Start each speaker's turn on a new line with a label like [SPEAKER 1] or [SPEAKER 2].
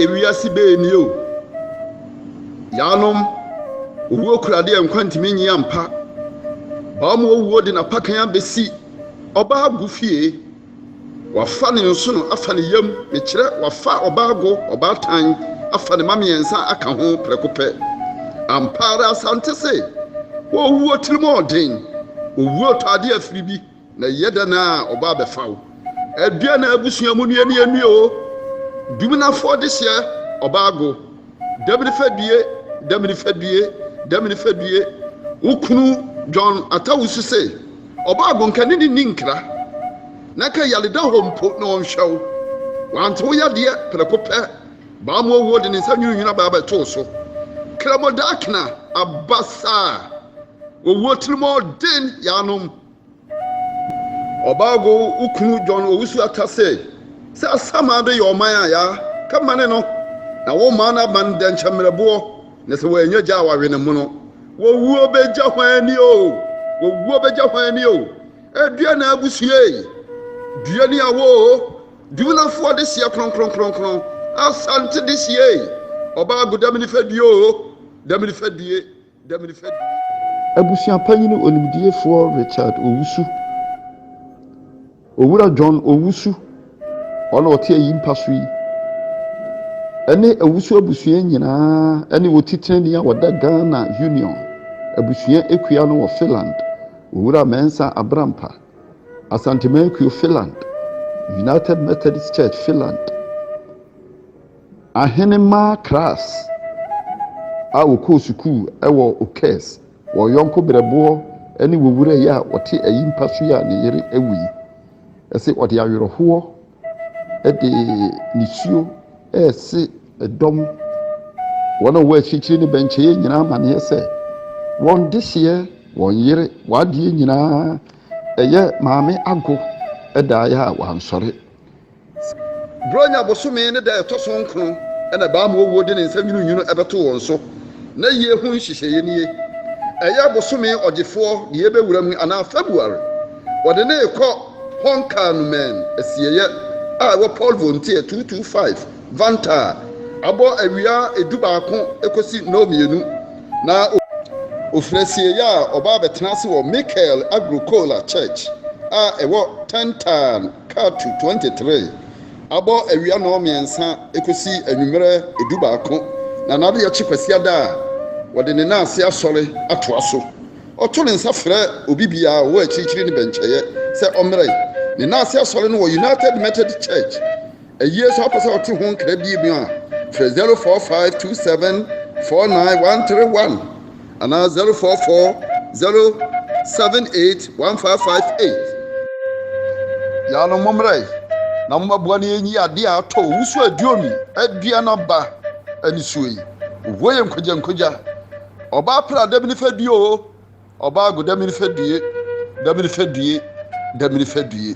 [SPEAKER 1] ewiase bɛɛ ni o yaanom owuo kurade a nkwa ntumi nyi ampa baa mu owuo de n'apakan abɛsi ɔbaa gu fie Wafa ne nsono afa ne yam, mekyerɛ, wafa ɔbaa go, ɔbaatan, afa ne mma mmiɛnsa aka ho prɛko pɛ. Ampa ara Asante se, Owuo tirimɔɔden, owuo tɔ adeɛ afiri bi, na ɛyɛ dɛn a ɔba abɛfa wo? Aduane a abusua mu nnuane nnue o, duminafoɔ dehyeɛ, ɔbaa go. Dɛbini fɛdue, dɛbini fɛdue, dɛbini fɛdue, wo kunu John Atta Wusu se, Ɔbaa go nka ne ne nni nkra, na nka yare da hɔ mpo na ɔnhwɛ wo. Wante wo yadeɛ prɛko pɛ, baa mu owuo de ne nsa nwinunwini aba abɛto wo so. Krɛmo Daakena aba saa, owuo tirimɔden yaanom. Ɔbaago wo kunu John Owusu Atta se, sɛ Asaman de yɛ ɔman a, ya ka ma ne no, na wo man no aban dɛ nkyɛ mmerɛboɔ, na sɛ wɔannya gya a wɔawe ne mono. Wɔwuo bɛgya hwan ani o, wɔwuo bɛgya hwan ani o, ɛdeɛ na abusua ei, dua ni awo o, Duminafoɔ de seɛ kronkronkronkron, Asante de seɛ ei, Ɔbaago dame nifa due o, dame nifa due.
[SPEAKER 2] Abusua panyin onimdiefoɔ Richard Owusu, Owura John Owusu, ɔno na ɔte ayi mpa so yi, ɛne Owusu abusua nyinaa ɛne wɔtitenani a wɔda Ghana Union abusua akua no wɔ Finland, Owura Mensa Abrampa, Asanteman Kuo Finland, United Methodist Church Finland. Ahenemmaa Kras a wɔkɔɔ sukuu wɔ Okes, wɔn yɔnko berɛboɔ ne wɔn wura yi a ɔte ayimpa so yi a ne yere awu yi, se ɔde awerɛhoɔ de nisuo rese dɔm wɔn a wɔwɔ akyirikyiri ne bɛnkyɛeɛ nyinaa amaneɛ sɛ, wɔn dehyeɛ, wɔn yere, wɔn adeɛ nyinaa yɛ Maame Ago daeɛ a wɔansɔre.
[SPEAKER 1] Buronya bosome ne da a ɛtɔ so nkron na baa ma owuo de ne nsa nwununwunu bɛtoo wɔn so. N'ayie ho nhyehyɛeɛ nie, Ɛyɛ bosome Ɔgyefoɔ deɛ yɛbɛwura mu anaa February. Wɔde no rekɔ Honkanumäen asieeɛ a ɛwɔ Polvontie 225 Vantaa a abɔ awia du baako kɔsi nnɔnmienu na ɔfiri asieeɛ a ɔba abɛtena ase wɔ Mikael Agro Kola Church a ɛwɔ Tentaan. Cut to twenty three Abɔ awia nnɔnmiɛnsa kosi anwummerɛ dubaako, na n'adeyɛkye Kwasiada a, ɔde ne nan ase asɔre atoa so. Ɔto ne nsa frɛ obi biara a ɔwɔ akyirikyiri ne bɛnkyɛeɛ sɛ ɔmmrɛ ne nan ase asɔre no wɔ United Methodist Church. Ɛyie sɛ wopɛ sɛ wote ho nkra bie mu a, frɛ 0452749131 anaa 0440781558. Yaanom mommra yi na mommaboa na yɛnyi adeɛ a atɔ owusuo aduonu adua no aba anisuo yi. Ohuo yɛ nkogya nkogya. Ɔbaa pra dami ne fɛ due oo, ɔbaa go dami ne fɛ due, dami ne fɛ due, dami ne fɛ due.